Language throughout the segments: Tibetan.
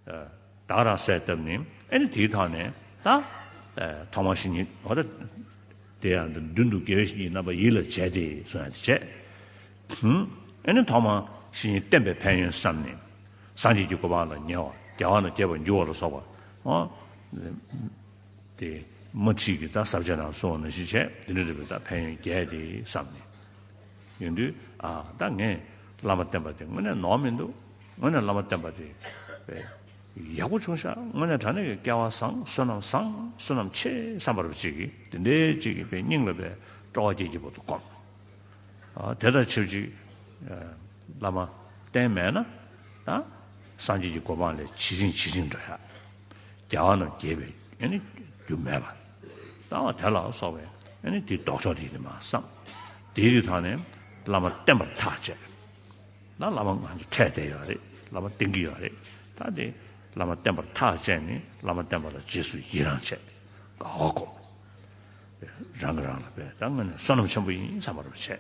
བདག་རང་གསལ་བཏབ་ནས་ཨེ་ནི་དེའི་ཐག་ནས་ད། ཐོག་མ་ཞིག་ཉིད་འོ་ད། དེ་ཡང་མདུན་དུ་དགེ་བའི་བཤེས་གཉེན་རྣམ་པ་ཡིད་ལ་བྱས་ཏེ་སོང་ཡང་དེ་བྱས། ཨེ་ནི་ཐོག་མ་ཞིག་ཉིད་བསྟན་པའི་ཕན་ཡོན་བསམས་ནས། སངས་རྒྱས་ཀྱི་གོ་འཕང་ལ་ཉེ་བར་རྒྱལ་བ་ན་སྐྱེ་བར་འགྱུར་བ་ལ་སོགས་པ། དེ། དམར་ཁྲིད་ཀྱི་ད་ཟབ་ཆ་རྣམས་སོ་ན་བཞིན་བྱས་འདི་འདྲ་རེ་བའི་ད་ཕན་ཡོན་རྒྱས་ཏེ་བསམས་ནས། ཡོན་ཏུ། ད་ངས་བླ་མ་བསྟེན་པ་དེ་དངོས་གནས་ནོར་མི་འདུག། དངོས་གནས་བླ་མ་བསྟེན་པ་དེ་ཡག་པོ་བྱུང་ཤག་དངོས་གནས་དྲ་གནས་ཀྱི་སྐལ་བ་བཟང་བསོད་ནམས་བཟང་བསོད་ནམས་ཆེ་བསམ་པ་རུ་ཅིག་དེ་འདྲའི་ཅིག་གི་པའི་སྙིང་ལ་པའི་སྤྲོ་བ་སྐྱེས་ཀྱི་པོ་འདུག་གམ། དེ་ལྟར་ཆེ་བཅུ་བླ་མ་བསྟེན་མེད་ན་ད་སངས་རྒྱས་ཀྱི་གོ་འཕང་ལས་ཇི་བྱིན་ཇི་བྱིན་འགྲོ་ཤག་རྒྱལ་བ་རྣམས་དགྱེས་པའི་རྒྱུ་མེད་པ་ད་བ་དེ་ལ་སོགས་པའི་དེའི་ལྡོག་ཕྱོགས་དེ་ཡིན་ནི་མ་བསམ་དེའི་རིགས་དག་ནི་བླ་མ་བསྟེན་པར་ཐག་བཅད། ན་བླ་མ་ང་ཚོ་ཕྲད་བསྡད་ཡོད་རེད་བླ་མ་བསྟེན་གྱི་ཡོད་རེད་ད་དེ་བླ་མ་བསྟེན་པར་ཐག་བཅད་ནས་བླ་མ་བསྟེན་པ་ལ་རྗེས་སུ་ཡི་རང་བྱས་དགའ་བ་སྒོམ། རང་གི་རང་ལ་དཔེ་ད་ང་ནི་བསོད་ནམས་ཆེན་པོ་ཡིན་བསམ་པ་རུ་བྱས།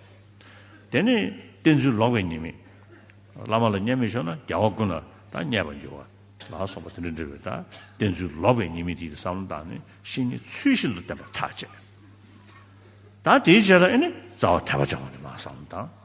དེ་ནས་བསྟེན་ཚུལ་ལོག་པའི་ཉེས་དམིགས། བླ་མ་ལ་བརྙས་མི་ཆོག་ན་རྒྱལ་བ་ཀུན་ལ་ད་བརྙས་པར་འགྱུར་བ་ལ་སོགས་པ་དེ་འདྲ་འདྲི་བས་ད་བསྟེན་ཚུལ་ལོག་པའི་ཉེས་དམིགས་དེ་ཡི་བསམ་བློ་བཏང་ནས་ཤིང་ནི་ཚུལ་བཞིན་དུ་བསྟེན་པར་ཐག་བཅད། ད་དེའི་རྗེས་ལ་ཨེ་ནི་རྩ་བ་དད་པ་བཅང་བ་དེ་མ་བསམ་བློ་བཏང།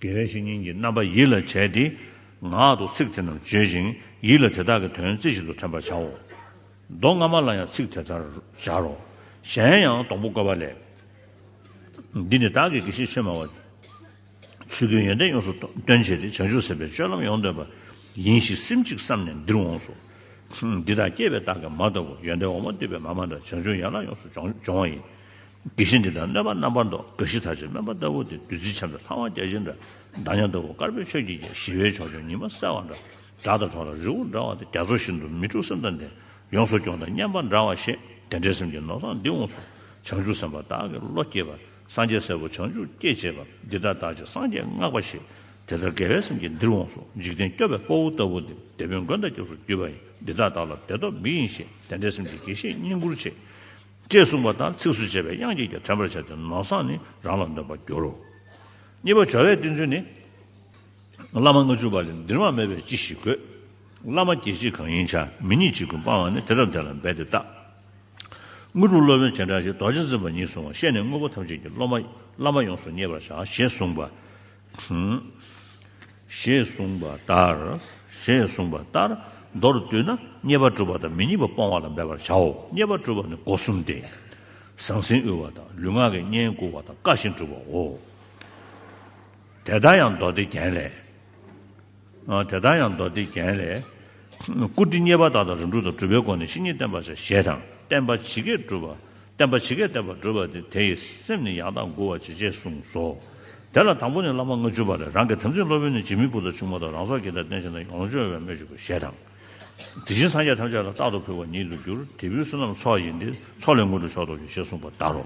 དགེ་བའི་བཤེས་གཉེན་གྱིས་རྣམ་པ་ཡིད་ལ་བྱས་ཏེ། ངག་ཏུ་ཚིག་དེ་རྣམས་བརྗོད་ཅིང་ཡིད་ལ་དེ་དག་གི་དོན་རྩེ་བཞིན་དུ་དྲན་པར་བྱའོ། མདོ་སྔ་མ་ལ་ཡང་ཚིག་དེ་ལྟར་སྦྱར་རོ། གཞན་ཡང་སྡོང་པོ་བཀོད་པ་ལས། འདི་ནི་བདག་གི་དགེ་བཤེས་ཆོས་སྨྲ་བ། ཆོས་ཀུན་ཡོན་ཏན་ཡོངས་སུ་སྟོན་བྱེད་དེ་བྱང་ཆུབ་སེམས་དཔའི་སྤྱོད་ལམ་ཡོངས་འདོད་པ་ཡིན་ཞེས་སེམས་གཅིག་བསམས་ནས་འདིར་འོངས་སོ། འདི་དག་སྐྱེས་པའི་རྟགས་ཀྱི་མ་ལྟ་བུ་ཡོན་ཏན་འོག་མ་འདུས་པའི་མ་མ་འདྲ་བྱང་ཆུབ་ཡན་ལག་ཡོངས་སུ་སྦྱོང་བ་ཡིན། དགེ་བཤེས་འདི་དག་གནོད་པ་རྣམ་པར་འདོགས་དགའ་བཞི་ཚར་བཅད་སྨོན་པ་ལྟ་བུ་དེ་བདུད་རྩི་ཆབ་འདྲ་ལྷ་དབང་རྒྱ་ཆེན་འདྲ་མདའ་ཉམས་ལྟ་བུ་དཀར་པོའི་ཆོས་ཀྱིས་ཀྱང་ཞི་བའི་ཕྱོགས་སྐྱོང་ཉི་མ་གསལ་བ་འདྲ་སྒྲ་དང་གྲོགས་དང་རི་བོ་འདྲ་བ་དེ་རྒྱ་མཚོ་བཞིན་དུ་མི་འཁྲུགས་སེམས་དང་ལྡན་ཡོངས་སུ་སྐྱོང་དང་སྙན་པ་འདྲ་བ་ཞེས་དེ་འདྲའི་སེམས་ཀྱི་ནོར་བཟང་འདི་འོངས་སོ། བྱང་ཆུབ་སེམས་དཔའ་བདག་གི་བློ་སྐྱེས་པ་སངས་རྒྱས་སྲས་པོ་བྱང་ཆུབ་སྐྱེད་བྱེད་པ་འདི་དག་བདག་ཅག་སངས་རྒྱས་བསྔགས་པ་ཞེས་དེ་ལྟར་དགེ་བའི་སེམས་ཀྱིས་འདིར་འོངས་སོ་འཇིག་རྟེན་སྐྱོབ་པའི་སྤོ་བོ་ལྟ་བུ་འདི་སྡེ་དཔོན་མགོན་དང་སྐྱབས་སུ་གྱུར་པ་ཡིན་འདི་དག་བདག་ལ་དད་སྟོབས་མི་ཡིན་ཞེས་དེ་འདྲའི་སེམས་ཀྱིས་དགེ་བཤེས་བསྙེན་བཀུར་བྱེད། ཅེས་གསུངས་པ་ལྟར་ཚིགས་སུ་བཅད་པའི་དབྱངས་ཀྱིས་ཀྱང་དྲན་པར་བྱ་སྟེ་ནོར་བཟངས་ནི་རང་ལ་འདོན་པར་འགྱུར་རོ། གཉིས་པ་བྱ་བའི་བསྟན་ཚུལ་ནི། བླ་མ་ལྔ་བཅུ་པ་ལས་འདིར་མ་སྨྲས་པས་ཅི་ཞིག་དགོས། བླ་མ་བརྒྱད་གཅིག་གང་ཡིན་བྱ་མི་ཉིད་གཅིག་ཀུན་སྤང་བ་ནི་དེ་དང་དེ་ལ་འབད་དེ་བརྟག། དངོས་གྲུབ་སློབ་དཔོན་སྤྱན་དྲངས་ཞེས་རྡོ་རྗེ་འཛིན་པ་ཉིད་གསུང་བ་བཤད་ནས་དངོས་པོ་ཐམས་ཅད་ཀྱི་སློབ་མ་བླ་མ་ཡོངས་སུ་མཉེས་པར་བྱ་ཞེས་གསུངས་པ། དྲུང། ཞེས་གསུངས་པ་ལྟར་ཞེས་གསུངས་པ་ལྟར་མདོར་བསྡུ་ན་རྙེད་པ་སྒྲུབ་པ་དང་མི་རྙེད་པ་སྤོང་བ་ལ་འབད་པར་བྱའོ། རྙེད་པ་སྒྲུབ་པ་ནི་སྒོ་གསུམ་སྟེ། ཟང་ཟིང་དབུལ་བ་དང་ལུས་ངག་གི་གཉེན་བཀུར་བ་དང་བཀའ་བཞིན་སྒྲུབ་པའོ། དེ་ལྟར་ཡང་མདོ་སྡེ་རྒྱན་ལས། དེ་དག་ཡང་མདོ་སྡེ་རྒྱན་ལས། བཀུར་སྟི་མཉེས་པ་དག་དང་རིམ་གྲོ་དང་གྲུབ་པའི་སྒོ་ནས་བཤེས་གཉེན་བསྟེན་པར་བྱ་ཞེས་དང། བསྟེན་པ་ཇི་སྐད་བསྒྲུབ་པ། བསྟེན་པ་ཇི་སྐད་བསྟེན་པར་བགྲོད་པ་སྟེ་དེ་ཡི་སེམས་ནི་ཡང་དག་མགུ་བར་བྱེད་ཅེས་གསུངས་སོ། དེ་ལ་དང་པོ་ནི་བླ་མ་ལྔ་བཅུ་པ་ལས་རང་གི་དམ་ཚིག་སློབ་དཔོན་ནི་རྗེ་མི་བུ་དང་ཆུང་མ་དང་རང་སྲོག་གི་དང་རྟེན་བྱིན་དང་ལོངས་སྤྱོད་བའི་སྨོས་ཅི་དགོས་ཞེས་དང། དེ་བཞིན་སངས་རྒྱས་ཐམས་ཅད་ལ་རྟག་ཏུ་ཕུལ་བ་ཉིད་དུ་འགྱུར་དེ་བུའི་བསོད་ནམས་ཚོགས་ཡིན་ཏེ་ཚོགས་ལས་སྔོན་འགྲོ་མཆོག་ཏུ་འགྱུར་ཞེས་གསུངས་པ་ལྟར་རོ།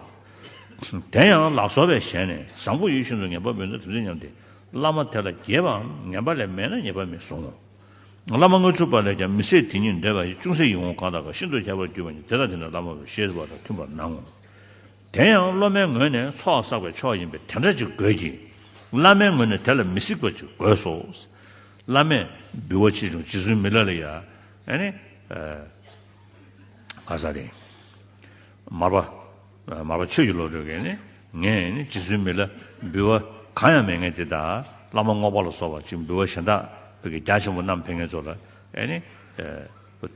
དེ་ཡང་ལག་སོར་བས་གཞན་ནས་བཟང་པོ་ཡིད་བཞིན་དུ་ངན་པ་འབུལ་ན་དམ་ཚིག་ཉམས་ཏེ། བླ་མ་དེ་ལ་རྒྱས་པའམ་ངན་པ་ལས་མེད་ན་ཉེས་པ་མི་བཟུང་ངོ། བླ་མ་ལྔ་བཅུ་པ་ལས་ཀྱང་མི་ཟད་དེ་ཉིད་འདས་པ་ཡི་ཅུང་ཟད་ཡིད་འོང་གང་དག་གིས་ཤིན་ཏུ་ཁྱབ་པར་གྱུར་པ་ཉིད་དེ་དག་དེ་ནི་བླ་མ་བའི་ཤེས་རབ་དང་མཐུན་པར་སྣང་ངོ། དེ་ཡང་སློབ་མའི་ངོས་ནས་ཚོགས་བསགས་པའི་མཆོག་ཡིན་པས་དེ་འདྲ་ཅིག་དགོས་ཀྱི། བླ་མའི་ངོས་ནས་དེ་ལ་མི་གཟིགས་པ་ཅིག་དགོས་སོ། བླ་མས། འབུལ་བ་ཆེ་ཆུང་ཇི་བཟོད་མི་ལ་ལ་ཡ། ཨ་ནི། ག་ས་རེད། མར་པ། མ་པ་ཆོས་ཀྱི་བློ་གྲོས་ཀྱིས་ནི་ངས་ནི་རྗེ་བཙུན་མི་ལ་འབུལ་བ་གང་ཡང་མེད་ངས་དེ་དག་བླ་མ་རྔོག་པ་ལ་སོགས་པ་ཅིག་འབུལ་བ་གཞན་དག་བོད་ཀྱི་རྒྱ་ཆེན་པོ་རྣམ་འཕེལ་ངེད་ཚོ་ལ་ནི།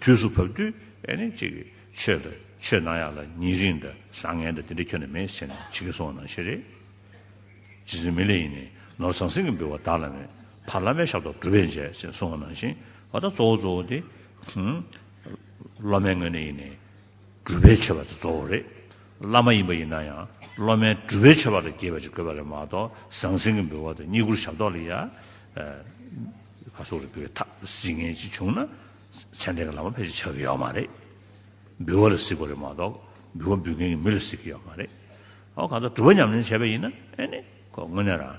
དུས་སུ་བབ་དུས་ནི་ཅིག་ཆོས་ལ་ཆོས་ནང་ཡག་ལ་ཉིན་རིང་དང་བཟང་ངན་དང་དེ་འདྲ་ཁྱོན་ན་མེད་ཟེར་ནས་བྱེད་ཀྱི་སོང་ན་ཤེས་རེད། རྗེ་བཙུན་མི་ལ་ཡིས་ནི་ནོར་ཟང་ཟིང་གི་འབུལ་བ་བདག་ལ་མེད་ཕར་བླ་མའི་ཞབས་ཏོག་གྲུབ་པས་མཇལ་ཟེར་ནས་སོང་བ་ནང་བཞིན་ད་ལྟ་གཙོ་བོ་གཙོ་བོ་དེ། སློབ་མའི་ངོས་ནས་ཡིན་ནི་གྲུབ་པའི་ཆོས་པ་དེ་གཙོ་བོ་རེད། བླ་མ་ཡིན་པ་ཡིན་ན་ཡང་སློབ་མའི་གྲུབ་པའི་ཆོས་པ་ལ་དགྱེས་པ་ཅིག་དགོས་པ་ལས་མ་གཏོགས་ཟང་ཟིང་གི་འབུལ་བ་དང་རྙེད་བཀུར་ཞབས་ཏོག་ལ་ཡ། ག་སོགས་ལ་འབུལ་བའི་ཐབས་གཟིགས་ངན་ཅིག་བྱུང་ན་མཚན་ལྡན་གྱི་བླ་མ་ཕལ་ཆེར་ཆགས་ཀྱི་ཡོད་མ་རེད། འབུལ་བ་ལ་གཟིགས་པ་ལས་མ་གཏོགས་འབུལ་བ་འབུལ་མཁན་གྱི་མི་ལ་གཟིགས་ཀྱི་ཡོད་མ་རེད། ཨོ་གང་ལྟར་གྲུབ་པ་ཉམས་ལེན་བྱས་པ་ཡིན་ན་ཨེ་ནི། ཁོ་དངོས་གནས་རང།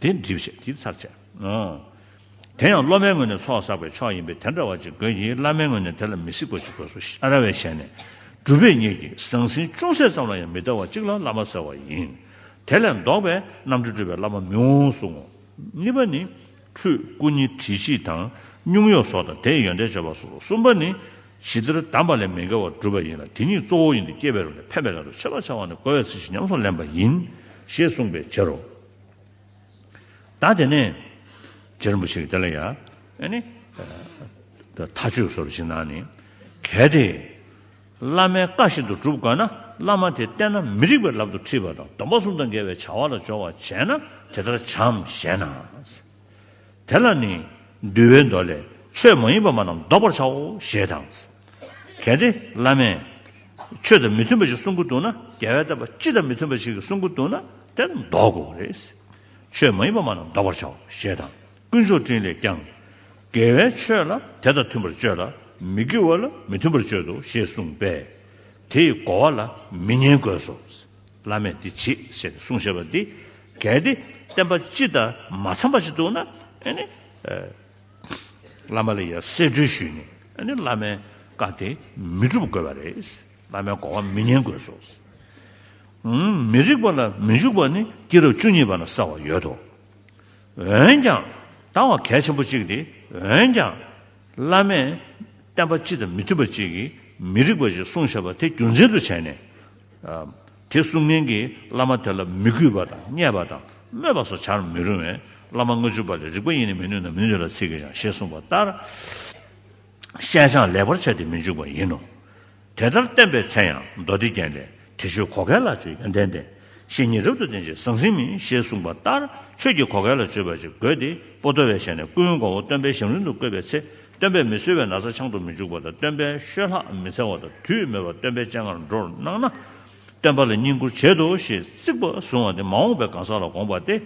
དེ་འགྲིབ་བྱེད་དེའི་ཚར་བཅད། དེ་ཡང་སློབ་མའི་ངོས་ནས་ཚོགས་བསགས་པའི་ཕྱོགས་ཡིན་པས་དེ་འདྲ་བ་ཅིག་དགོས་ཀྱི་བླ་མའི་ངོས་ནས་དེ་ལ་མི་སྲིད་གོ་ཅིག་གོ་སོ་ཤཱ་ར་བས་བྱས་ནས། སྒྲུབ་པའི་གཉེར་གྱི་ཟང་ཟིང་ཅུང་ཟད་ཙམ་ལ་ཡང་མི་ལྟ་བ་ཅིག་ལ་བླ་མ་ཟེར་བ་ཡིན། དེ་ལས་ལྡོག་པའི་རྣམ་འགྲེལ་སྤྲོས་པའི་བླ་མ་མི་འོང་གསུང་ངོ། གཉིས་པ་ནི། ཁྲུས་སྐུ་ཉི་ཁྲི་སྤྱི་དང། སྙུང་གཡོག་སོགས་དང་དེའི་ཡོན་ཏན་བརྗོད་པ་སོགས་གསུམ་པ་ནི། ཇི་ལྟར་གདམས་པ་ལས་མི་འགལ་བར་བསྒྲུབ་པ་ཡིན་ལ་དེ་ཉིད་གཙོ་བོ་ཡིན་ཏེ་སྐྱེས་པའི་རོ་ནས་ཕན་པའི་ལམ་དུ་བྱེད་པར་བྱ་བ་ནི་གོ་བའི་ཚིག་བཞིན་ཉམས་སུ་ལེན་པ་ཡིན། ཞེས་གསུངས་པའི་ཕྱིར་རོ། ད་དེ་ནས་རྗེ་རིན་པོ་ཆེས་དེ་ལ་ཡ་ནི་ད་ཆོས་སོར་བཞི་ན་ནི་གལ་ཏེ་བླ་མའི་བཀའ་བཞིན་དུ་བསྒྲུབ་དགོས་ན་བླ་མ་དེ་བསྟེན་ན་མི་རིགས་པའི་ལམ་དུ་ཁྲིད་པ་དང་སྡོམ་པ་གསུམ་དང་འགལ་བའི་བྱ་བ་ལ་སྦྱོར་བ་བྱས་ན་དེ་ལྟར་བྱའམ་ཞེ་ན། དེ་ལ་ནི་འདུལ་བའི་མདོ་ལས་ཆོས་མ་ཡིན་པ་མ་རྣམས་བཟློག་པར་བྱའོ་ཞེས་དང། གལ་ཏེ་བླ་མས། ཆོས་དང་མི་མཐུན་པ་ཞིག་གསུང་གི་འདུག་ན་རྒྱལ་བས་བསྟན་པ་སྤྱི་དང་མི་མཐུན་པ་ཞིག་གིས་གསུང་གི་འདུག་ན་དེ་བཟློག་གོ། ཆོས་མ་ཡིན་པ་མ་རྣམས་བཟློག་པར་བྱའོ་ཞེས་དང། དཀོན་མཆོག་སྤྲིན་ལས་ཀྱང། དགེ་བའི་ཆོས་ལ་དེ་དང་མཐུན་པར་སྤྱོད་ལ་མི་དགེ་བ་ལ་མི་མཐུན་པར་སྤྱོད་དོ་ཞེས་གསུངས་པས། དེ་ཡི་གོ་བ་ལ་མི་ཉན་དགོས་སོ། བླ་མས་འདི་བྱེད་ཞེས་གསུངས་ཞེས་པ་འདི་གལ་ཏེ་བསྟན་པ་སྤྱི་དང་མ་འཚམ་པ་ཞིག་འདུག་ན་ཨེ་ནི། བླ་མ་ལ་ཡང་གསེར་སྦྲུལ་ཞུས་ནས་ཨེ་ནི་བླ་མའི་བཀའ་དེ་མི་སྒྲུབ་དགོས་པ་རེད། བླ་མའི་དགོངས་བ་མི་ཉན་དགོས་སོ། མི་རིགས་པ་ལ་མི་འཇུག་པ་ནི་སྐྱེ་རབས་བཅུ་གཉིས་པ་ན་གསལ་བར་ཡོད་དོ། འོན་ཀྱང་དང་བ་གལ་ཆེན་པོ་གཅིག་སྟེ་འོན་ཀྱང་བླ་མས་བསྟན་པ་སྤྱི་དང་མི་མཐུན་པ་གཅིག་གིས་མི་རིགས་པ་ཞིག་གསུངས་ཞེས་པ་དེ་རྒྱུ་མཚན་དུ་བྱས་ནས་དེ་གསུམ་ངན་གྱིས་བླ་མ་དེ་ལ་མི་གུས་པ་དང་བརྙས་པ་དང་སྨོད་པ་སོགས་བྱར་མི་རུང་བས་བླ་མ་ལྔ་བཅུ་པ་ལས་རིགས་པ་ཡེ་ནས་མི་ནུས་ན་མི་ནུས་ལ་ཚིག་གིས་ཀྱང་ཞེས་གསུངས་པ་ལྟར་ཤད་ཆང་ལེགས་པར་བྱས་ཏེ་མི་འཇུག་པ་ཡིན་ནོ། དེ་ལྟར་བསྟན་པའི་ཚེ་ཡང་མདོ་སྡེ་རྒྱན་ལས་དེ་ཆོས་གོ་གལ་ལ་སྤྱོད་ཡོན་ཏན་ལྡན་ཞེས་ཉིད་རབ་ཏུ་བསྟན་ཅིང་ཟང་ཟིང་མིན་ཞེས་གསུངས་པ་ལྟར་ཆོས་ཀྱི་གོ་གལ་ལ་སྤྱོད་པ་ཅིག་དགོས་ཏེ་པོ་ཏོ་བས་བྱས་ནས་ཀུན་དགའ་བོ་སྟོན་པའི་ཞིང་རིན་དུ་བཀོད་པའི་ཚེ་སྟོན་པས་མི་གསོད་པའི་ན་ཚ་འཆང་དུ་མི་འཇུག་པ་དང་སྟོན་པའི་བཤོས་ལྷག་མི་འཚལ་བ་དང་དུས་མེད་པར་སྟོན་པའི་སྤྱན་སྔར་འགྲོར་སྣང་ན། སྟོན་པ་ལ་བསྙེན་བཀུར་བྱེད་དོ་ཞེས་རྩིག་པ་བཟུང་བ་དེ་མ་འོངས་པའི་གང་ཟག་ལ་དགོངས་པ་སྟེ།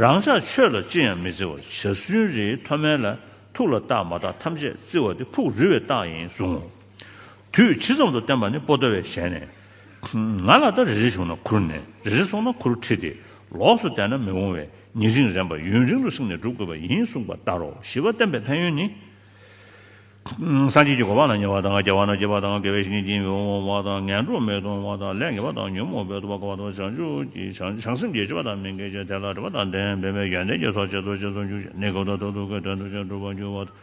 རང་ཅག་ཆོས་ལ་ཅི་ཡང་མི་བརྩི་བར་བྱ་སུན་རིའི་མཐོ་དམན་ལ་ཐུག་ལ་རྟགས་མ་དག་ཐམས་ཅད་བརྩི་བ་དེ་ཕུགས་རུས་བའི་རྟགས་ཡིན་གསུང་ངོ། དུས་ཇི་ཙམ་དུ་བསྟན་པ་ནི་པོ་ཏོ་བས་ཞལ་ནས། ང་ལ་ད་རེ་རེ་བྱུང་ན་ཁུར་ནས་རེ་རེ་སོང་ན་ཁུར་ཁྲིད་དེ་ལོགས་སུ་བསྡད་ན་མི་འོང་བས་ཉིན་རིང་རན་པ་ཡུན་རིང་དུ་བསྲིངས་ནས་བསྒྲུབ་དགོས་པ་ཡིན་གསུངས་པ་ལྟར་རོ་བཞི་བ་བསྟན་པའི་ཕན་ཡོན་ནི། སངས་རྒྱས་ཀྱི་གོ་འཕང་ན་ཉེ་བ་དང་རྒྱལ་བ་ན་སྐྱེ་བ་དང་དགེ་བའི་བཤེས་གཉེན་གྱིས་འོང་བ་དང་ངན་འགྲོ་མས་འོང་བ་དང་ལས་ངན་པ་དང་ཉོན་མོངས་པས་འདུལ་བ་གོ་བ་དང་བྱང་ཆུབ་ཀྱི་བྱང་ཆུབ་བྱང་སེམས་ཀྱི་སྤྱོད་པ་དང་མི་འགལ་ཅིང་དེ་ལ་འབྲེལ་པ་དང་ལྡན་པས་ཡོན་ཏན་གྱི་ཚོགས་ཆེན་དུ་ཆེན་ཚོགས་འཇུག་ཅིང་ནི་གོ་བདེ་དང་ཐུགས་ཀའི་དོན་དུ་ཆེན་གྲུབ་པར་འགྱུར་བ་དང།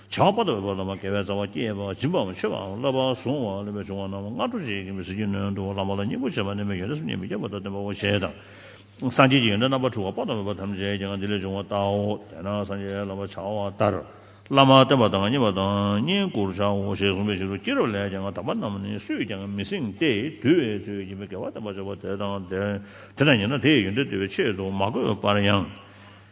བྱང་པ་དང་འོད་དཔག་ལམ་པ་དགེ་བའི་རྩ་བ་བསྐྱེད་པ་སྦྱིན་པའམ་མཆོད་པའམ་བསླབ་པ་བཟུང་བ་ལས་པའི་འབྱུང་བ་རྣམས་སྔ་དྲོ་རྗེས་ཀྱི་མི་ཚེ་རྒྱུད་ནོན་དུ་བླང་བ་ལ་སྙིང་པོ་བྱེད་པ་ནི་མི་སྐྱོན་ལས་སུ་ཉེས་མི་སྐྱེ་བ་དང་ལྡན་པའོ་ཞེས་དང། སངས་རྒྱས་ཀྱི་ཡོན་ཏན་རྣམ་པར་འཕྲུལ་བ་དཔག་ཏུ་མེད་པ་ཐམས་ཅད་ཀྱིའང་འདི་ལས་འབྱུང་བ་ལྟའོ། དེས་ན་སངས་རྒྱས་བསླབ་པར་བྱ་བ་ལྟར་བླ་མར་བསྟེན་པ་དང་བསྙེན་པ་དང་བསྙེན་བཀུར་བྱའོ་ཞེས་གསུངས་པའི་ཕྱིར་རོ་སྐྱེས་རབས་ལས་ཀྱང་དམ་པ་རྣམས་ནི་སུས་ཀྱང་མི་སྲིང་སྟེ་དུལ་བའི་ཚུལ་གྱིས་མི་དགེ་བ་སྟོན་པར་བྱ་བ་དེ་དང་དེ་དང་ཉེ་ན་དེ་ཡི་ཡོན་ཏན་བསྟོད་པའི་ཆེད་དུ་མ་བཀོད་པར་ཡང།